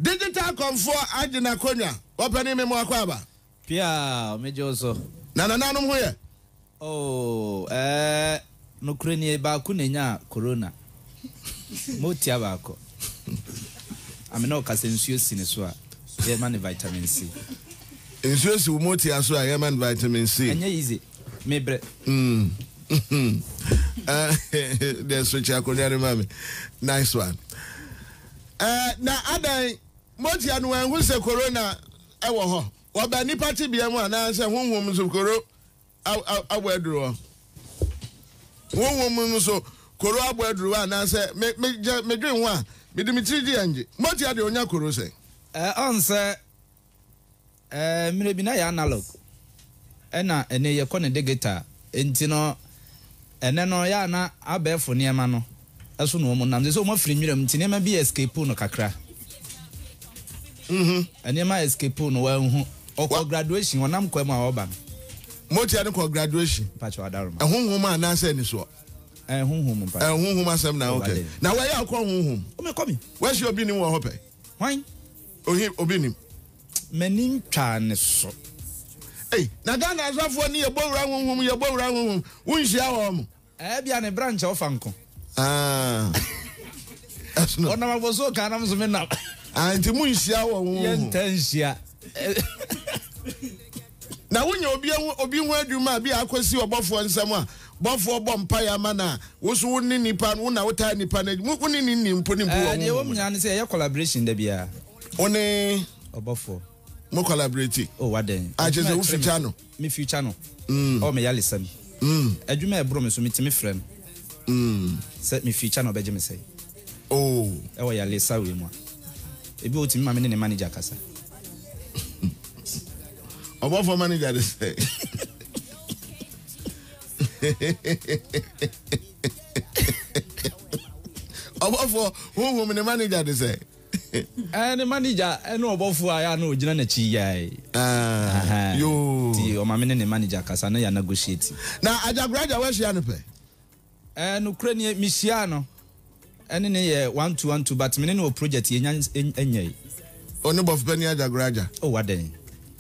Digital kɔnfoɔ agye n'akonnwa. Ɔpanin me mmoa kɔ aba. Pia, megye wo so. Na nananom ho yɛ? Oh, eh, nokorɛ nie, baako na ɛnyaa Corona. Motia baako. Ame ne ɔka sɛ nsuo si ne so a, yɛma ne vitamin C. Nsuo si wo motia so a, yɛma no vitamin C. Ɛnyɛ easy. me brɛ. Mm. uh, then switch akonya ne mami. Nice one. Uh, na adan motia no ɛho sɛ corona ɛwɔ hɔ. Wɔbɛ nipa te bia mu anaasɛ honhom nso koro abɔ aduru hɔ. Honhom nso koro abɔ aduru hɔ anaasɛ medwen ho a mede me tiri di angye. Motia deɛ ɔnya koro sɛ. Ɛɛ ɔnsɛ Ɛɛ, mmerɛ bi na yɛ analog ɛna ɛnnɛ yɛ kɔ no digital nti no ɛnnɛ no yɛ a na abɛɛfo nneɛma no so na wɔn nam, seisei wɔn afiri nwura mu nti nneɛma bi escapee no kakra, nneɛma escapee no wanhu, ɔkɔ graduation, ɔnam kwa mu a ɔreba no. Motia no kɔ graduation? Mpakyɛw Adaroma. Ɛhonhom a anaasɛ anisoɔ? Ɛɛ, honhom mpakyɛw. Ɛɛ, honhom asɛm na, ok. Na wɔ yɛ a wokɔ honhom? Ɔmɛ kɔ me. W'ahyia obi nim wɔ hɔ pɛ? Hwan? Ohe obi nim. M'ani ntwaa ne so. Ei, na Ghana asɔfoɔ ne yɛbɔ wura honhom, yɛbɔ wura honhom. Wonhyia wɔn? Ɛɛ bia ne bra nkyɛ ɔfa nko. Ah. Ɛsono. Ɔnam abɔsoo kan nam so me nam. Ah, nti mo nhyia wɔn honhom. Yɛnta nhyia. Na wonya obi ho obi ho adwuma a bi a akosi ɔbɔfoɔ nsam a, bɔfoɔ bɔ mpaeɛ ama no a, wo nso wo ne nnipa no, wo na wotaa nnipa no, mo, wo ne no nni mpo ne mbu wɔ Ɛɛ, deɛ ɛwɔ honhom mu mu no. nyinaa ne sɛ yɛyɛ collaboration da biara. Wo ne Ɔbɔfoɔ. mo collaborate. Oh, wadɛn? Ah, kyerɛ Adwuma sɛ a wo ɛkyerɛ me future so. no. Me future no. Ɛwɔ me yalesa mu. Adwuma a ɛboro me so, metumi frɛ no. Sɛ me future no, ɔbɛgye me sɛn? Oh. Ɛwɔ yalesa wei mu a, ebi otumi ma me ne ne manager kasa. Ɔbɔfo manager de sɛ. Ɔbɔfo huhum ne manager de sɛ. Ɛɛ ne manager ɛne ɔbɔfo a yɛ na ogyina n'akyi yae. Ah, yoo. Ti ɔma me ne ne manager kasa na yɛ negotiate. Na ajagoraja wahyia no pɛ. Eh nokorɛ nie me hyiaa no ɛne no yɛɛ one two one two but me ne no wɔ project yɛnya nyɛɛ. Ɔne bɔfopani Agyagoraagya. Oh adɛn.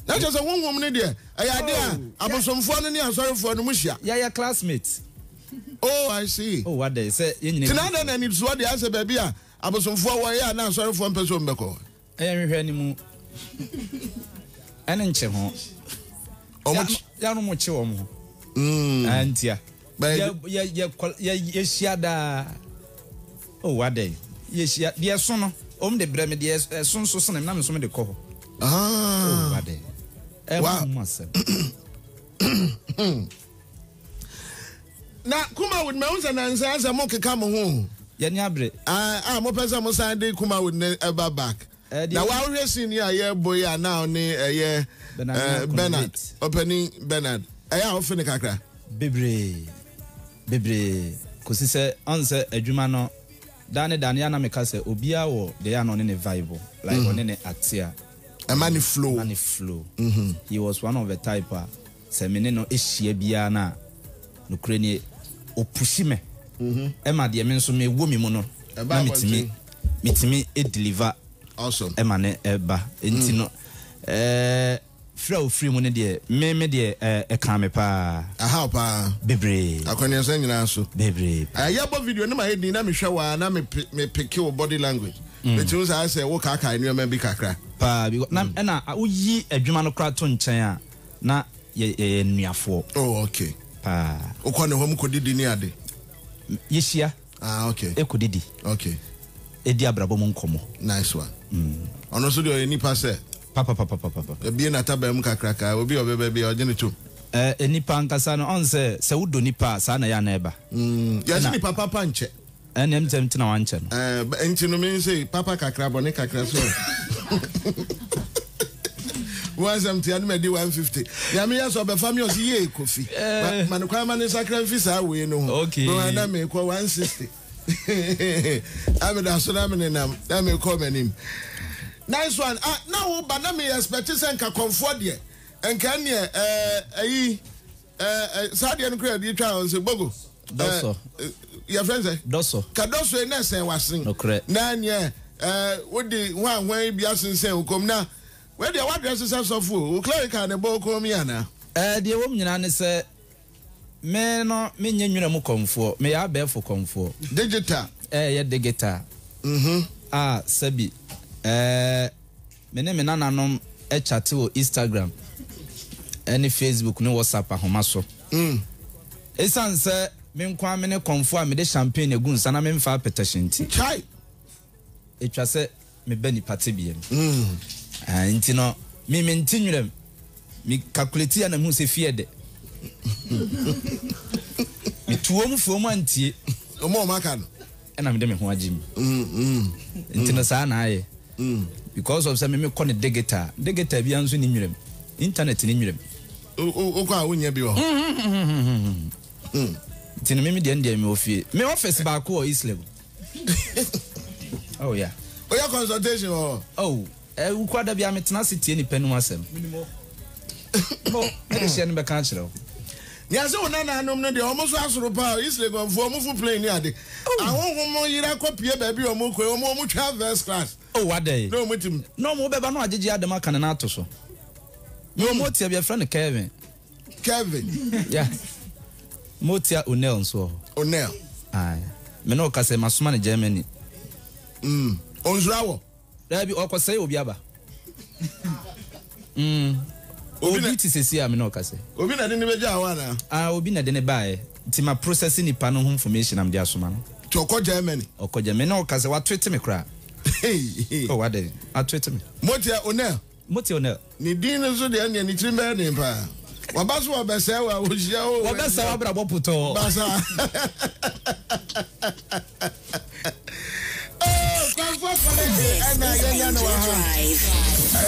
Na kyerɛ sɛ honhom no deɛ ɛyɛ adeɛ a oh, abosomfoɔ no ne asɔrefoɔ no mo hyia. Yɛyɛ classmate. Oh I see. Oh wadɛn sɛ yɛn nyina. Ti na adɛn na anisoɔ deɛ asɛ baabi a abosomfoɔ wɔ yɛ a na asɔrefoɔ mpɛ sɛ wɔn bɛkɔ. Ɛyɛ nhwehwɛ ne mu ɛne nkye ho. Yɛn mo kye wɔn ho. Antia. Yɛhyia daa. O oh, wadɛn. Yɛhyia deɛ so no. Wɔn de brɛ me deɛ ɛso nso sene nam nso me de kɔ hɔ. Ah. O oh, wadɛn. Ɛmu mu asɛm. na kumawood mɛ n sɛ nansa sɛ mo keka mo ho yɛni abere a mo pɛ sɛ mo san de kumawood ne ɛba back na wahwɛ sin yi a yɛbɔ yi a na ɔne ɛyɛ Bernard ɔpɛni Bernard ɛyɛ a ɔfe ne kakra bebree bebree kɔsi sɛ ɔn sɛ adwuma no daa ne daa no yɛ na meka sɛ obiara wɔ deɛ yɛ a na ɔne ne vibe like ɔne ne atea ɛma ne flow ɛma ne flow he was one of the type a Sɛ me ne no hyia biara no a, nokorɛ nie, ɔpushi me ma deɛ me nso mewɔ me mu no na metumi metumi deliver ma no ba. Nti no firi a ɔfiri mu no deɛ, me me deɛ ɛkaa me paa. Ɛhaw paa. Bebree. Akwanneɛnsɛm nyinaa so. Bebree paa. Yɛbɔ video no ma yɛ din na mehwɛ wo a na me peke wo body language. Metumi saa sɛ wo kaakae nneɛma bi kakra. Paa bi na ɛna woyi adwuma no koraa to nkyɛn a. na yɛ yɛyɛ nnuafoɔ. Oh okay. Paa. Wokɔ ne hɔ mu kɔdidi ne ade? Yɛhyia. Ah okay. Ɛkɔdidi. Okay. Ɛdi abrabɔ mu nkɔmmɔ. Nice one. Mm. Ɔno nso deɛ ɔyɛ nipa sɛ. Papapapapapa. Ɛbie n'ataban mu kakraka obi a ɔbɛba bi a ɔgye ne tom. Eh, nipa ankasa no ɔn sɛ sɛ wodɔ nipa a saa na ɛyɛ a na ɛba. Mm. Yɛse nipa papa nkyɛ. Ɛnneɛ ntɛm nti na wankyɛ no. Ɛɛ, nti no me nso yi, papa kakra, bɔne kakra so ɛ. Wo asɛm te anom adi 150. Nea meyɛ sɛ ɔbɛfa me ɔse yie Kofi. Ma, ma no kwan ma ne nsakra mfi saa wei no ho. Okay. Me hwan na mekɔ 160. Na meda so na menenam, na mekɔ m'anim. Nice one. Ah, na wo ba na me expect sɛ nka kɔmfoɔ deɛ. Nka ɛneɛ, ɛɛ, ayi. saa deɛ no kura ɛdeɛ twa wɔn sɛ bogo dɔsɔ yɛfrɛ sɛ dɔsɔ ka dɔsɔ yi na ɛsɛn wasen na neɛ wode hwanhwan yi bi asensɛn wo kɔm na wɛdeɛ wadrɛ se sɛ sɔfoɔ wo clerical ne bɔ kɔn mi anaa deɛ wɔm nyinaa ne sɛ me no menyɛ nwura mu kɔmfoɔ meyɛ abɛɛfo kɔmfoɔ digital ɛyɛ digital mm-hmm. a ah, sɛbi ɛɛ Me ne me nananom kyate wɔ Instagram ne Facebook ne WhatsApp ahoma so. Esiane sɛ me nko ara me ne kɔmfoɔ a mede champagne agu nsa na memfa apɛtɛhye nti, ɛtwa sɛ meba nnipa tebea mu. Enti no, me mente nwerɛm. Me calculate yɛ a na mehu sɛ fie de, metu wɔn fo wɔn antie. Wɔn a wɔaka no. Ɛna mede me ho agye mu. Nti no saa na ayɛ. Because of sɛ me mekɔ no digita a, digita biara nso nni Nwerɛm. Internet nni Nwerɛm. Wokɔ a wonnya bi wɔ hɔ. Nti no me me deɛ no deɛ mewɔ fie. Me office baako wɔ Eastlake. Oh yeah. Woyɛ consultation wɔ hɔ? Oh. Eh, wo kura da biara metena ase tie nipa anim asɛm. Menim hɔ. Mo, me de hyɛ no bɛka akyerɛ wo. Yɛse wo nananom no deɛ ɔmo so asoro paa o, Isregonfoɔ ɔmo fo plane ne ade, oh. ahohom yera kɔ pie baabi a ɔmo kɔ yi, ɔmo ɔmo twa first class, oh, adɛn, na ɔmo tim. Na ɔmo bɛba na wagyegye adam aka ne nan ato so. Na ɔmo tia bi ɛfrɛ no Kevin. Kevin. Yeah. Mo tia Onel nso wɔ hɔ. Onel. Aye. Me na ɔka sɛ masoma ne Germany. Mm. Onsura wɔ. Daabi ɔkɔ sɛe obi aba. Mm. Obi na- Obi te sɛsi a me ne ɔkasɛ. Obi na de ne bɛgyaa hɔ anaa? Ah, obi na de ne baeɛ. Nti ma process nipa no ho information a mede asoma no. Nti ɔkɔ Germany. Ɔkɔ Germany. Me ne ɔkasɛ, watwete me koraa. Hey, hey. Oh, adɛn? Atwete me. Motia, Onel. Mote o nɛ. Ne din no so deɛ ɛnneɛ ne tirim bɛyɛ den paa waba so wɔbɛsɛe wo a wɔhyia o wɔbɛsɛe wo abrabɔ putɔɔ basa kwanfoɔ kɔlɛgye ɛna yɛnya no wɔ ha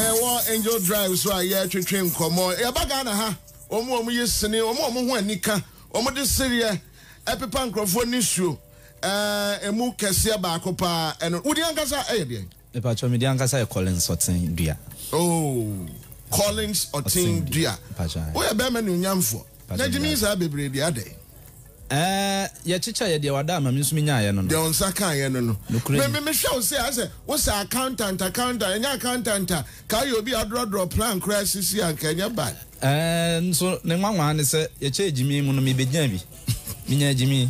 ɛwɔ angel drive so a yɛtwetwe nkɔmmɔ yɛba ghana ha wɔn wɔn yi sene wɔn wɔn ho anika wɔn de sereɛ ɛpepa nkurɔfoɔ nisuo ɛmu kɛseɛ baako paa ɛno wodi ankasa ɛyɛ deɛ Mepakyɛw me din ankasa yɛ Collins Ɔtsen Dua. Oh Collins Ɔtsen Dua. Wo yɛ bɛɛma nuonyamfoɔ. Na gyimi yi saa bebree de adɛn? Ɛɛ yɛ kyekyɛ yɛ deɛ wada ama me nso me nyaa yɛ no no. Deɛ wo nsa kaa yɛ no no. Nokorɛ ni. Me me hwɛ wo sɛ ayɛ sɛ wo sɛ accountant accountant ɛnyɛ accountant a ka ayɛ obi a ɔdrɔdrɔ plan koraa sisi a nka ɛnyɛ bad. Ɛɛ nso ne nwanwaa ne sɛ yɛ kyɛɛ gyimi mu no me bɛ gyaa bi. Me nyaa gyimi.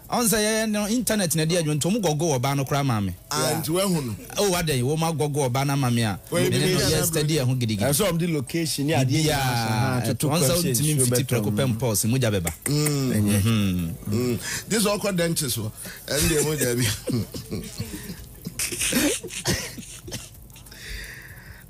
Ɔn sɛ yɛyɛ no internet na ɛde adwuma nti ɔmo gɔgol ɔbaa no koraa maa me. Ah nti wahu no. Oh adɛn wɔn agɔgol ɔbaa no ama me a me ne no yɛ study ɛho gidigidi. Ɛsɛ ɔmo de location ne adeɛ nyinaa ahyɛ ha a toto question nsuo bɛtɔ mu. Ɔn sɛ wontumi mfiti prɛko pɛ mpɔs mogya bɛba. Ɛnyɛ. Gye sɛ ɔkɔ dɛnkye so ɛno deɛ mogya bi.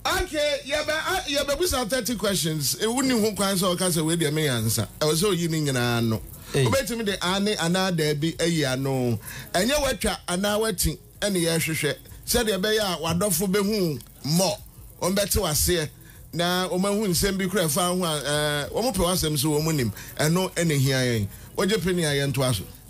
Ok yɛbɛ a yɛbɛbusa thirty questions wonni ho kwan sɛ ɔka sɛ wei deɛ me yansa ɛwɔ sɛ oyi ne nyinaa ano wobɛtumi de aane anaa daabi ayi ano ɛnyɛ woatwa anaa woati ɛne yɛhwehwɛ sɛdeɛ ɛbɛyɛ a w'adɔfo bɛhu wo more wɔn bɛte w'aseɛ na wɔn ahu nsɛm bi kora ɛfa ho a ɛɛ wɔn pɛ w'asɛm so wɔn nim ɛno ɛna ɛhia yɛn wogye pene a yɛntoa so.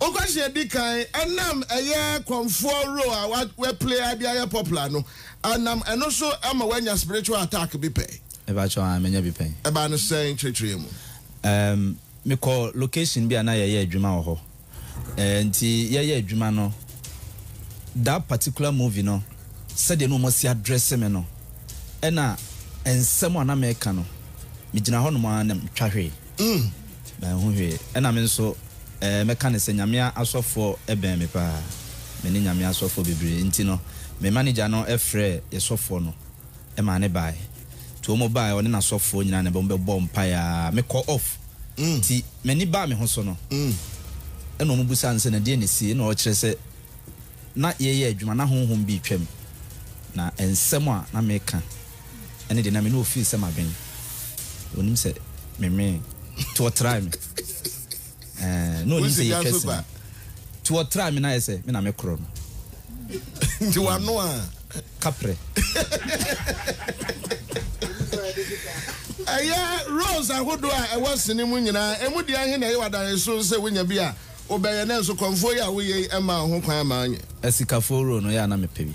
Ɔkwasea edi kan nam ɛyɛ kɔmfoɔ role a wa wɛ play a de ayɛ popular no nam ɛno so ma wanya spiritual attack bi pɛ. Mepakyɛw aah manya bi pɛn. Ɛbaa no sɛn kyerɛkyerɛ yɛ mu. Ɛɛm me kɔ location bi a na yɛyɛ adwuma wɔ hɔ ɛɛ nti yɛyɛ adwuma no that particular movie no sɛdeɛ na wɔn asi adrɛse me no ɛna nsɛm a na mɛka no megyina hɔ nom aah na me twa hwee. mm. Manhu hwee. Ɛna me nso eh, mɛka ne sɛ Nyame asɔfoɔ bɛn me paa. Me ne Nyame asɔfoɔ bebree nti no, me manager no frɛɛ yɛ sɔfoɔ no maa ne bae. Nti wɔn bae, ɔne n'asɔfoɔ nyinaa na wɔn bɛbɔɔ mpaeɛ aa. Me kɔɔ off. Mm. Nti m'ani baa me ho so no, mm. Ɛna wɔn busaa no sɛ na deɛ na ɛsie, ɛna ɔkyerɛ sɛ na yɛyɛ adwuma na honhom bi retwam, na nsɛm a na meka. ɛne deɛ na me ne ɔfeel sɛ madwen ɔnim sɛ memee to ɔtraa me ɛɛ na ɔnim sɛ yɛtwa sini to ɔtraa me na ayɛ sɛ me na me korɔ no nti wano a kaprɛ ɛyɛ roles ahodoɔ a ɛwɔ sini mu nyinaa ɛmu deɛ ahe na ɛyɛ wadane so sɛ wonya bi a wobɛyɛ na nso kɔmfoɔ yi a woyɛ yi ɛma ho kwan ma nyɛ asikafoɔ role no yɛ a na mepɛ bi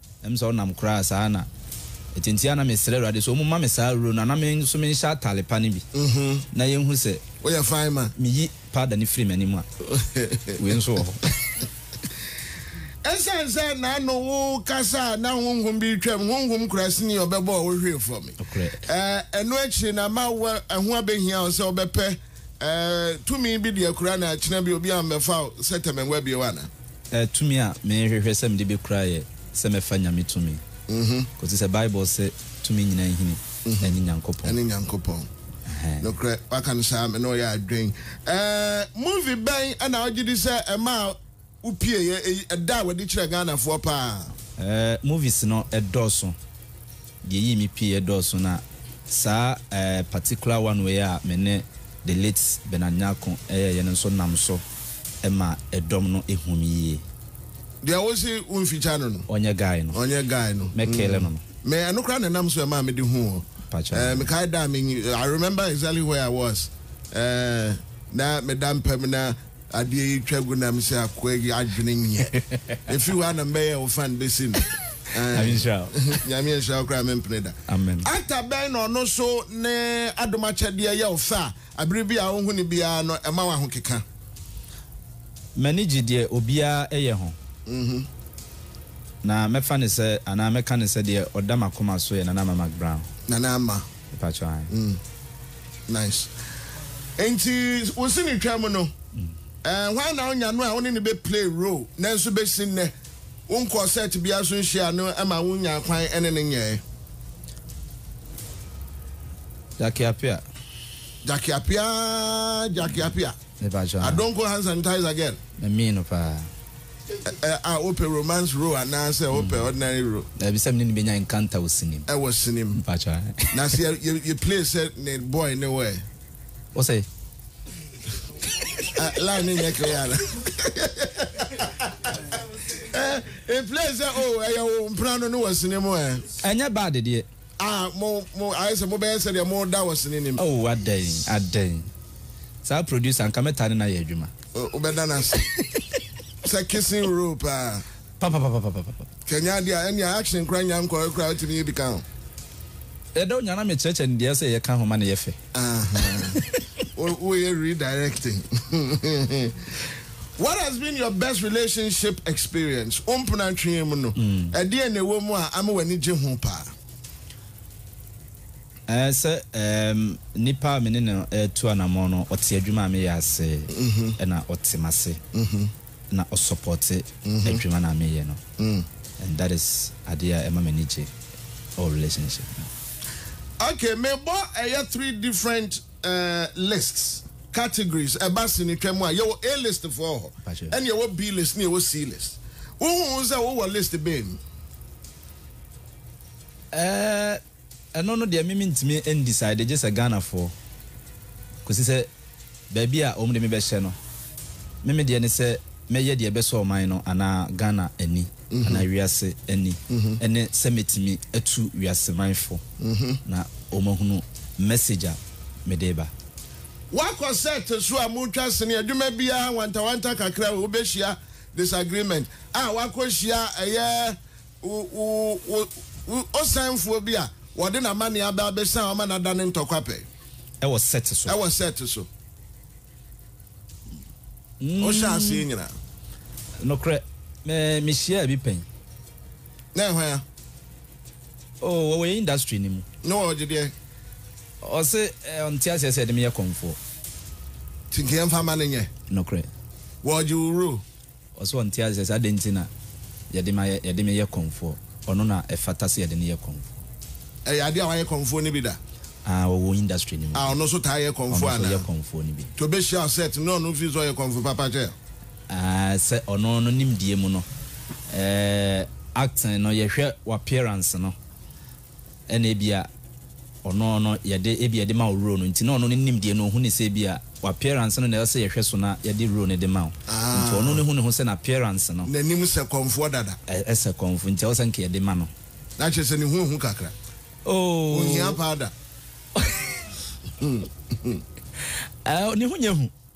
Ɛm sɛ ɔnam koraa saa na ɛti nti a na mesrɛ Awurade sɛ ɔmuma me saa ruro no ana me nso menhyɛ atare pa no bi na yɛnhu sɛ woyɛ fine ma meyi powder no firi m'anim a wei nso wɔ hɔ. Ɛsiane sɛ n'ano wo kasa a na honhom bi retwam, honhom kurasini ɔbɛbɔɔ wo hwee fam. Nokorɛ. Ɛno akyiri na ma wo ɛho abɛhia wo sɛ wobɛpɛ. Ɛɛ, tumi bi deɛ kura na kyena bi obi ammɛfa wo sɛ tɛmɛnwa bio anaa? Ɛɛ, tumi a mehwehwɛ sɛ mede bɛkura yɛ sɛ mɛfa Nyame tumi, kɔsi sɛ Bible se tumi nyinaa hini ɛne Nyankopɔn. Ɛne Nyankopɔn. Ɛhɛɛ. Nokorɛ, waka no saa, me ne wo yɛ adwen. Ɛɛ, movie bɛn na wogyedi sɛ ɛmaa. Wo pie yɛ eyi ɛda a wɔde kyerɛ Ghana foɔ paa. Ɛɛ movies no ɛdɔɔso. Deɛ ɛyii me pie yɛ dɔɔso na saa ɛɛ particular one wei a me ne the late Bernard Nyarko ɛyɛɛyɛ no nso nam so ɛma ɛdɔm no ɛhu me yie. Deɛ wo se wo nfikya no no. Ɔnyɛ guy no. Ɔnyɛ guy no. Mɛ kele no no. Me ɛno koraa na ɛnam so ɛmaa me de huu wo. Mpakyɛw. Ɛɛ me kae da a me nyi I remember exactly where I was ɛɛ na me da mpa mu na. Adeɛ yi twa gu nam sɛ akoa yi adwene nyɛ. Ɛfiri hɔ a na mɛyɛ wo fan bɛsi no. Nyame nhyira wo. Nyame nhyira wo koraa mempene da. Amen. Actor bɛn na ɔno nso ne adom akyɛdeɛ yɛ wo fɛ a abere biaa wohu no biaa no ɛma wo ahokeka? M'ani gye deɛ obiara yɛ ho. Na mɛfa no sɛ anaa mɛka no sɛ deɛ ɔda m'akoma so yɛ Nana Ama McBrown. Nana Ama. Mpatsɔ ae. Mm nice nti wo si ne twam no ɛɛ hwan na ɔnya no a wo ne ne bɛ play role nanso bɛsi nnɛ wo nkɔɔ set biara so nhyia no ɛma wo nya kwan ɛne ne nyɛɛ. Jackie Appiah. Jackie Appiah Jackie Appiah. Me pa kyɛw. Adonko Hands and Ties Again. Me mee no paa. Ɛ ɛ a wopɛ romance role anaa sɛ wopɛ ordinary role? Daabi sɛ me ne no bɛnya encounter wɔ sini mu. Ɛwɔ sini mu. Me pa kyɛw ɛ. Na sɛ yɛ yɛ yɛ play sɛ ne boy ne wo ɛ? Wo sɛ. Ɛ line no nyɛ clear ana? Ɛ yɛ play sɛ oh ɛyɛ wo mpena no ne wɔ sini mu ɛ? Ɛnyɛ bad deɛ. Ah, mo, mo, ayɛ sɛ mobɛyɛ sɛdeɛ moreda wɔ sini no mu. Oh, adɛn, adɛn. Saa producer, anka mɛtaa ne no ayɛ adwuma. Oh, wobɛda no ase. Sɛ kissing role paa. Papapapapapapa. Sɛ ɛnyɛ adeɛ a, ɛnneɛ action koraa nnya nkɔeɛ koraa, wotumi yɛ bi ka ho. Ɛda Onyaa na mekyerɛkyerɛ no deɛ ɛsɛ sɛ yɛka ho ma no yɛ fɛ. Aha. Wo, woyɛ redirecting. What has been your best relationship experience? Wo mpena ntwea mu no, ɛdeɛn na ɛwɔ mu a ama w'ani gye ho paa? Ɛɛ sɛ ɛɛm nipa a me ne no retu anamɔn no, ɔte adwuma a meyɛ ase, ɛna ɔte m'ase, na ɔsɔpɔte adwuma no a meyɛ no. And that is adeɛ a ɛma m'ani gye wɔ relationship mu. Okay, mebɔ ɛyɛ three different. Eh, lists, categories, ɛba sinitwa mu a, yɛwɔ A-list foɔ wɔ hɔ, ɛna yɛwɔ B-list na yɛwɔ C-list. Wohuu sɛ wowɔ list bɛn mu? Eh, ɛno no deɛ me mentumi n-decide gye sɛ Ghanafoɔ, kɔsi sɛ baabi a wɔde me bɛhyɛ no. Me me deɛ ne sɛ mɛyɛ deɛ ɛbɛsɔ ɔman no anaa Ghana ani. anaa wiase ani ne sɛ mɛtumi atu wiase man fo na wɔn ahunu message a mede reba. Woakɔ set so a motwa sini adwuma biara wantawanta kakra o wobɛhyia disagreement a woakɔ hyia ɛyɛ wo wo wo osanfoɔ bi a wɔde n'amaneɛ aba abɛsan ama no adane ntɔkwapɛ. Ɛwɔ set so. Ɛwɔ set so. Wohyɛ aseɛ nyina. Nokorɛ, me mehyiaa bi pɛn. Na ɛhwan a? Oh, wɔwɔ yɛn industry no mu. Na ɔgye deɛ? Ɔse ɔnte aseɛ sɛ yɛde me yɛ kɔmfoɔ. Nti nka yɛmfa mma no nyɛ. Nokorɛ. Wɔgye wo role? Ɔsɛ ɔnte ase sɛ adɛn nti na yɛde ma yɛ, yɛde me yɛ kɔmfoɔ, ɔno na ɛfata sɛ yɛde no yɛ kɔmfoɔ. Ɛyɛ adeɛ a wayɛ kɔmfoɔ no bi da? Ah, ɔwɔ industry no mu Ah, bi. ɔno nso taa yɛ kɔmfoɔ Ɔno nso anaa? yɛ kɔmfoɔ no bi. Nti ɔbɛhyia wo set no na ɔno feel sɛ ɔyɛ kɔmfoɔ papa kyɛ? Ah, sɛ ɔno no nimdeɛ mu no, eh, acting no yɛhwɛ w'appearance no. Ɛna ebia ɔno no yɛde ebia yɛde ma wo role no nti na ɔno ne nimdeɛ no ohu ne sɛ ebia w'appearance no na ɛsɛ sɛ yɛhwɛ so na yɛde role no de ma wo nti ɔno no hu ne ho sɛ n'appearance no N'anim sɛ kɔmfoɔ dada. ɛsɛ kɔmfo nti ɛwɔ sɛ nka yɛde ma no. Na kyerɛ sɛ ne ho ahu kakra. Ɔnhia Oh. powder. Ɛɛ ne ho nyɛ hu.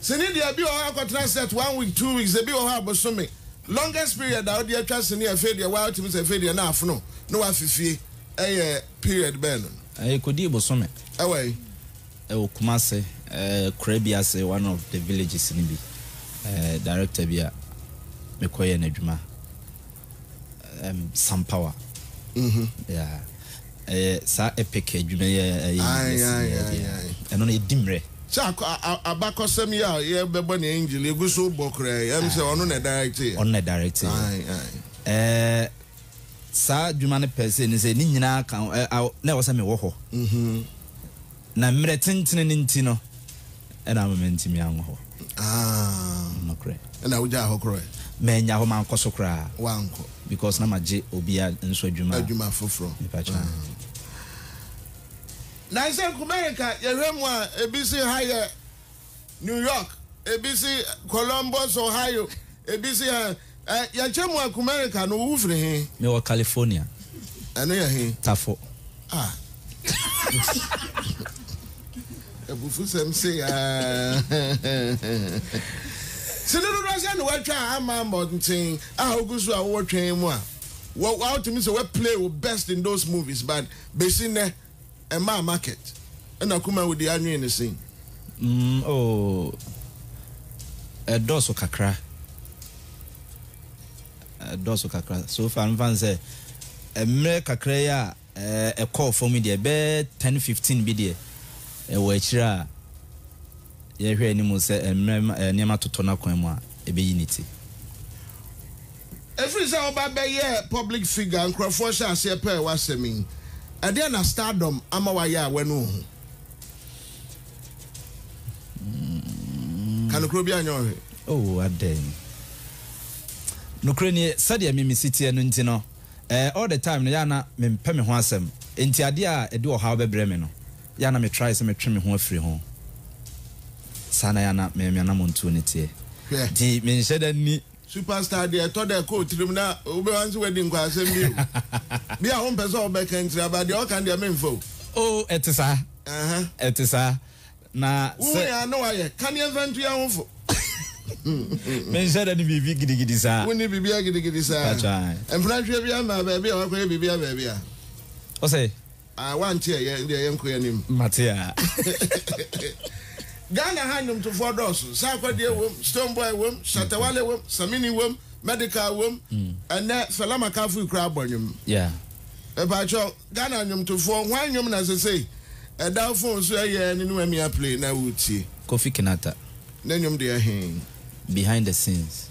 Sini deɛ ebi wɔ hɔ a wokɔtena set one week two weeks ebi wɔ hɔ a bosome longest period a wode atwa sini afei deɛ waa wotumi sɛ afei deɛ na afono na wafi fie ɛyɛ period bɛn no. Ɛkɔdii bosome. Ɛwɔ he? Ɛwɔ Kumase kura bi ase one of the villages no bi director bi a mekɔyɛɛ no adwuma. um, Sam Power. Mm-hmm. Yeah. Ɛyɛ saa epic adwuma yɛ ɛyɛ ɛno na ɛdi mmerɛ. Sɛ abakɔsɛm yi a yɛbɛbɔ ne angel egu so bɔ koraa ɛm sɛ ɔno na directe yɛ. Ɔno na directe yɛ. Ɛɛ saa adwuma no pɛ sɛ ne sɛ ne nyinaa ka na ɛwɔ sɛ mewɔ hɔ. Mm-hmm. Na mmerɛ tentene no nti no na ama mantumi anwɔ hɔ. Aah. Nokorɛ. Ɛna wogyaa hɔ korɔɛ? Mannya hɔ, mankɔ so koraa. Woankɔ. Because na magye obi a nso adwuma. Adwuma foforɔ. Mepakyɛw. Aah. Nansɛ Nkume nka yɛhwɛ mu a ebi se ha yɛ. New York, ebi se Columbus, Ohio, ebi se ɛ, ɛ, yɛkyɛ mu a Kumerica no, wo firi he? Me wɔ California. Ɛno yɛ he? Tafo. Ah. Abufusɛm sei aa. Sene dodoɔ sɛ na woatwa a ama mmɔnten a wogu so a wowɔ twɛn mu a, wɔ, wotumi sɛ woaplay wo best in those movies but besi nnɛ ɛmaa market ɛna kuma wo deɛ anwen no sɛn. Mm oh ɛdɔɔso kakra ɛdɔɔso kakra so far mfa no sɛ mmerɛ kakra yi a ɛkɔɔ fam yi deɛ bɛyɛ ten fifteen bi deɛ ɛwɔ akyire a yɛhwɛ anim sɛ mmerɛ nneɛma totɔ no akwan mu a ɛbɛyi ne ti. Ɛfiri sɛ woba bɛyɛɛ public figure nkorɔfoɔ hyɛ aseɛ pɛɛ w'asɛm yi. Ɛdeɛn na stardom ama wayɛ a w'ani nhu? Ka nokorɛ obiara nyɛ ɔhwe. Oh adɛn? Nokorɛ nie sɛdeɛ me mesi teɛ no nti no eh all the time no yɛ a na me mpɛ me ho asɛm nti adeɛ a ɛde ɔhaw bɛbrɛ me no yɛ a na me try sɛ me twe me ho afiri ho saa na yɛ a na me me anamɔntuo no teɛ Hwɛ. nti me nhyɛ da nni Superstar deɛ ɛtɔ da ɛkɔ otirim na wobɛwa nso wadi nkwa asɛm bi o bi a wompɛ sɛ wobɛka ntira aba deɛ ɔka deɛ memfa o. Oh ɛte saa ɛte saa na sɛ. Wohu yɛn a na wayɛ kaneɛ mfa ntu yɛn ho fo. Menhyɛ da ne biribi gidigidi saa. Wonni biribiara gidigidi saa. Mpatwa. Mpena hwɛ bi ama baabi a wakɔyɛ biribi a baabi a. Ɔsɛ. Ah wante ɛ yɛ ndeɛ yɛnkɔ yanim. Mate aa. Ghana ha nnwomtofoɔ dɔɔso, Sarko Adie wom, Stone Boy wom, Shatta Wale wom, Samini wom, Medical wom, ɛnnɛ Fela Makafui koraa bɔ nnwom. Yeah. Mepaakyɛw, Ghana nnwomtofoɔ, hwan nnwom na sesei ɛda wo phone so ɛyɛ ne ne wamia play na woretie? Kofi Kinaata. Ne nnwom deɛ he? Behind the scenes.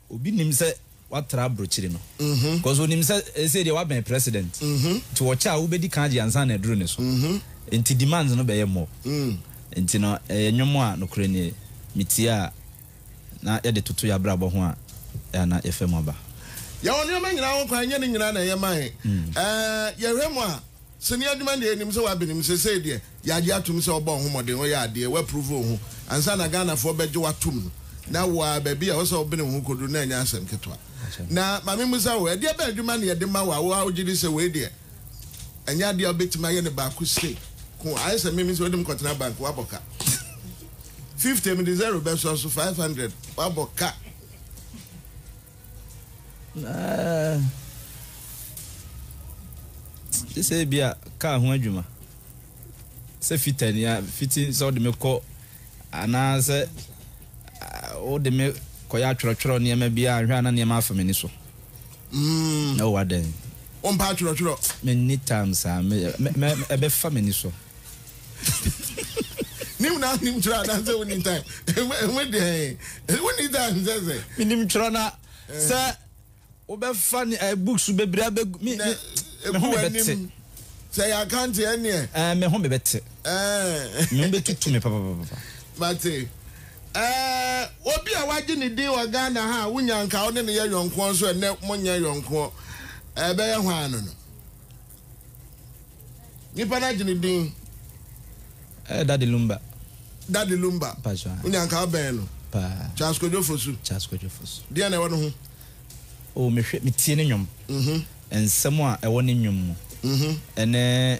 Obi nim sɛ watra abrokyire no cos onim sɛ ɛsei deɛ wabɛn president nti ɔkyɛ a wobɛdi kan agye ansa na aduru ne so nti demands no bɛyɛ more nti no ɛyɛ nwom a nokorɛ nie metie a na yɛde toto y'abrabɔ ho a ɛa na yɛfa mu aba. Yɛwɔ nneɛma nyinaa ho kwan ɛnyɛ ne nyinaa na ɛyɛ ma yɛn ɛɛ yɛhwɛ mu a sini adwuma deɛ yɛnim sɛ wabenem sesei deɛ Yɛagye atom sɛ wobɔ wo ho mmɔden, woyɛ adeɛ, woaprove wo ho ansa na Ghanafoɔ bɛgye wo atom no. Na wo ara, baabi a ɛwɔ sɛ wobene wo ho kɔduru no ɛnyɛ asɛm ketewa. Na ma memmisa wo, ɛdeɛ bɛn adwuma na yɛde ma wo a wo ara wogye di sɛ wei deɛ, ɛnyɛ adeɛ a wobɛtumi ayɛ no baako sei ko? Ayɛ sɛ me, me sɛ wode me kɔtena bank, woabɔ ka. Fifty, mede zero bɛsɔ so, five hundred, woabɔ ka. Gye sɛ ebi a kaa ho adwuma sɛ fitani a fiti sɛ wode me kɔ anaasɛ wode me kɔyɛ atwerɛtwerɛ nneɛma bi a nhwɛ a na nneɛma afa m'ani so mm. na wowɔ adɛn wompɛ atwerɛtwerɛ menni tam saa ɛbɛfa m'ani so nim na nim twerɛ anaasɛ woni time ɛmu deɛ woni time sɛ sɛ menim twerɛ na sɛ wobɛfa ne eh, books bebree abɛgu me ho mebɛte sɛ yɛ akante ɛneɛ eh, me ho mebɛte eh. me ho bɛtutu me papapapa mate obi a wagye ne din wɔ ghana ha a wonya nka wo ne ne yɛ yɔnkoɔ nso ɛnɛ monyɛ yɔnkoɔ ɛbɛyɛ hɔ ano no Nipa no agye ne din. Eh, Daddy Lumba. Daddy Lumba. Mpatsɔ a. Wonya nka abɛn no. Paa. Charles Kojo Fosu. Charles Kojo Fosu. Deɛ na ɛwɔ ne ho. O oh, mehwɛ metie ne nnwom. Mm -hmm. Nsɛm a ɛwɔ ne nnwom mu. Mm -hmm. Ɛne.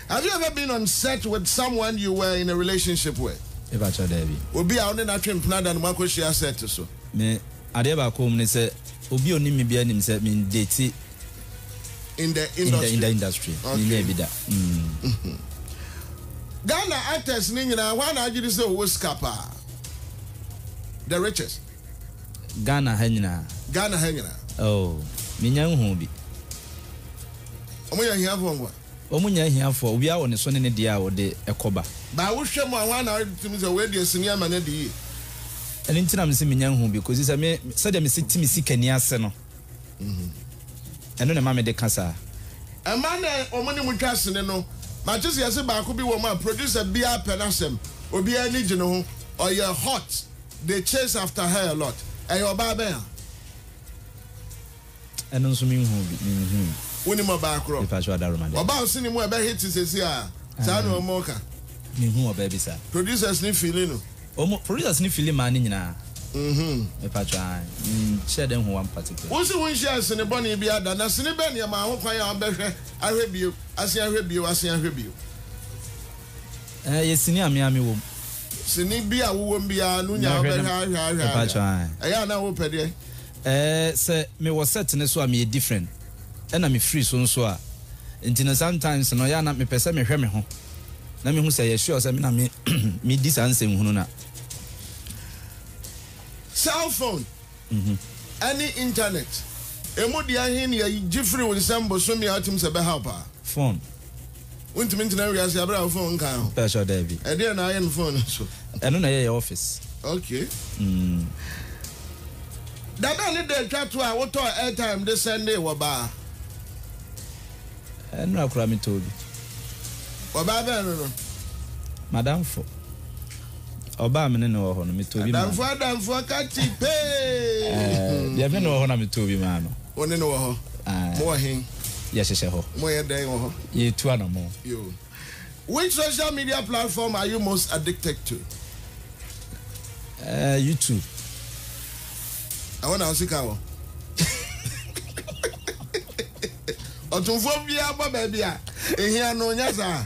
Have you ever been on set with someone you were in a relationship with? Me pa kyɛw daabi. Obi a wo ne no atwe mpena da no moakɔhyia set so? Me, adeɛ baako wɔ mu ne sɛ obi a onim me biara nim sɛ me ndate In the in the in industry? the industry. Me nyaa Okay. bi da. Mm. Ghana actors no nyinaa hwan na agye di sɛ ɔwɔ sika paa? The richest? Ghana ha nyinaa? Ghana ha nyinaa. Oh, me nnya nhuu bi. Wɔyɛ ahiafoɔ nkoa. Wɔn nyɛ ahiafoɔ, owia wɔ ne so ne ne deɛ a ɔde ɛkɔ ba. Baa wohwɛ mu a hwan na wogye tom sɛ wei deɛ sini ama no adi yie? Ɛno nti na mese menya nhu bi kɔsi sɛ me sɛdeɛ mese te me sikani ase no, ɛno na ɛma mede ka saa. Mmaa no a wɔn ne mo twa sini no, mate sɛ yɛse baako bi wɔ mu a producer biara pɛ n'asɛm, obiara ani gye ne ho, ɔyɛ hot, they chase after her a lot. Ɛyɛ ɔbaa bɛn a? Ɛno nso me nhuu bi, me nhui. Wonim ɔbaa korɔ? Mepa kyɛw Adaroma deɛ. Ɔbaa ɔsini mu a ɛbɛ hit sɛsi a, saa na ɔmɔ ka. Me hu ɔbaa bi saa. Producers ni fili no. Ɔmɔ, producers ni fili maa no nyinaa. Mhm. Mepa kyɛw ae, me nhyɛ da nhu one particular. Wo se wo nhyia asini bɔne biara da, na sini bɛn ne ɛmaa ho kwan a wo bɛ hwɛ ahwɛ bio, asen ahwɛ bio, asen ahwɛ bio? Ɛɛ, yɛ sini a me ara me wɔ mu. Sini bi a wo wɔ mu biara no nya a wo bɛ hwɛ ahwɛ ahwɛ ahwɛ a, ɛyɛ a na wo pɛ deɛ? Ɛɛ sɛ me wɔ set no so a meyɛ different ɛna me firi so nso a nti no sometimes no ɛyɛ a na me pɛ sɛ me hwɛ me ho na me hu sɛ ɛyɛ sure sɛ me na me me di saa nsɛnhunu no a. Cell phone ɛne internet ɛmu deɛ ɛhe ne yɛgye firi wo nsam bosome a wotim sɛ ɛbɛhaw paa. Phone. Wontumi ntena wiase abere a wo phone nkaa ho. Ɛɛ sure daabi. Ɛdeɛn na ayɛ no phone no so? Ɛno na ɛyɛ yɛ office. Okay. Mm. Dada ne da atwa to a wotɔɔ airtime de sɛndee wɔ baa. Ɛnora koraa metɔɔ bi. Ɔbaa bɛn no no? M'adamfo. Ɔbaa a me ne no wɔ hɔ no, metɔɔ bi maa no. Adamfoɔ adamfoɔ ka kye pee. Deɛ me ne wɔ hɔ na metɔɔ bi maa no. Wo ne no wɔ hɔ? Ae. Mo wɔ hen? Yɛhyehyɛ hɔ. Mo yɛ dɛn wɔ hɔ? Yɛtu anamɔn. Yo. Which social media platform are you most addicted to? Eh, YouTube. Ɛhɔ na wo sika wɔ? Ɔtomfoɔ biara bɔ baabi a ehia no, nyɛ saa?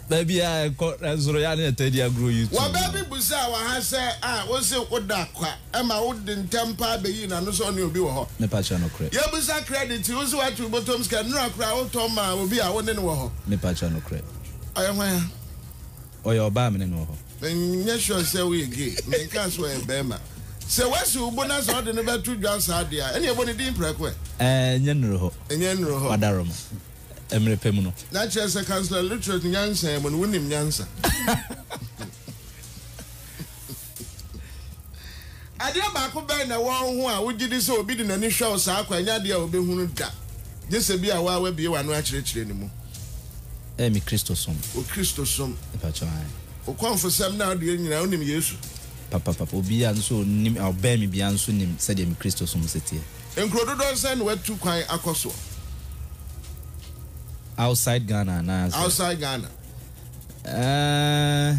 Baabi a ɛkɔ, nanso no, yɛ a na yɛtaa di agorɔ yi tu. Wɔ bɛ bi bisaa wɔ ha sɛ, a, wose woda kwa, ɛma wode ntɛm paa beyii n'ano sɛ ɔne obi wɔ hɔ? Mepa kyɛw, nokorɛ. Yɛbisa krɛditi, wose woatu wo botom sika, nnura koraa wotɔn maa obi a wone no wɔ hɔ? Mepa kyɛw, nokorɛ. Ɔyɛ hwan a? Ɔyɛ ɔbaa mene no wɔ hɔ. Menyɛ sure sɛ woyɛ gay. Menkaa sɛ ɔyɛ barima. Sɛ wasi wo bo na sɛ ɔde no bɛto dwa saa deɛ a, ɛnneɛ ɛbɔ ne din prɛko ɛ. Ɛɛ, nyɛ nnuru hɔ. Nyɛ nnuru hɔ. Wadaro mo. Mmerɛ pɛ mu no. Na kyerɛ sɛ Councillor Luttrell nyansa mu no, wonim nyansa. Adeɛ baako bɛn na ɛwɔ wo ho a wogye di sɛ obi de n'ani hwɛ wo saa kwa? Ɛnyɛ adeɛ a wobɛhunu da, gye sɛ bi a wo ara woabue w'ano akyerɛkyerɛ ne mu. Ɛyɛ me Kristosom. Wo Kristosom. Mpakyɛw, ae. Wo kɔmfosɛm ne adeɛ nyinaa, wonim Yesu? Papa, papa. Obi a nso ɔnim, a ɔbɛn me biara nso nim sɛdeɛ me Kristosom si teɛ. Nkuro dodoɔ sɛn na woatu kwan akɔ soɔ? Outside Ghana anaasɛ? Outside Ghana. Ɛɛh.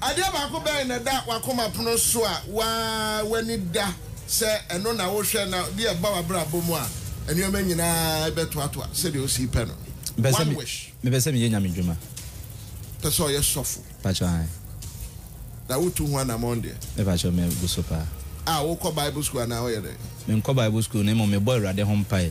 Adeɛ baako bɛn na ɛda w'akoma pono so a woaa w'ani da sɛ ɛno na wohwɛ na bi a ɛba w'abrabɔ mu a nneɛma nyinaa bɛtoatoa sɛdeɛ wosii pɛ no? Mepɛ sɛ One me, wish. mepɛ sɛ meyɛ Nyame dwuma. Pɛ sɛ ɔyɛ sɔfo. Mpakyɛw ae. Na wotu ho anamɔn deɛ? Mepakyɛw me gu so paa. A, wokɔ Bible school anaa woyɛ dɛn? Menkɔ Bible school na mmom mebɔ Awurade ho mpae.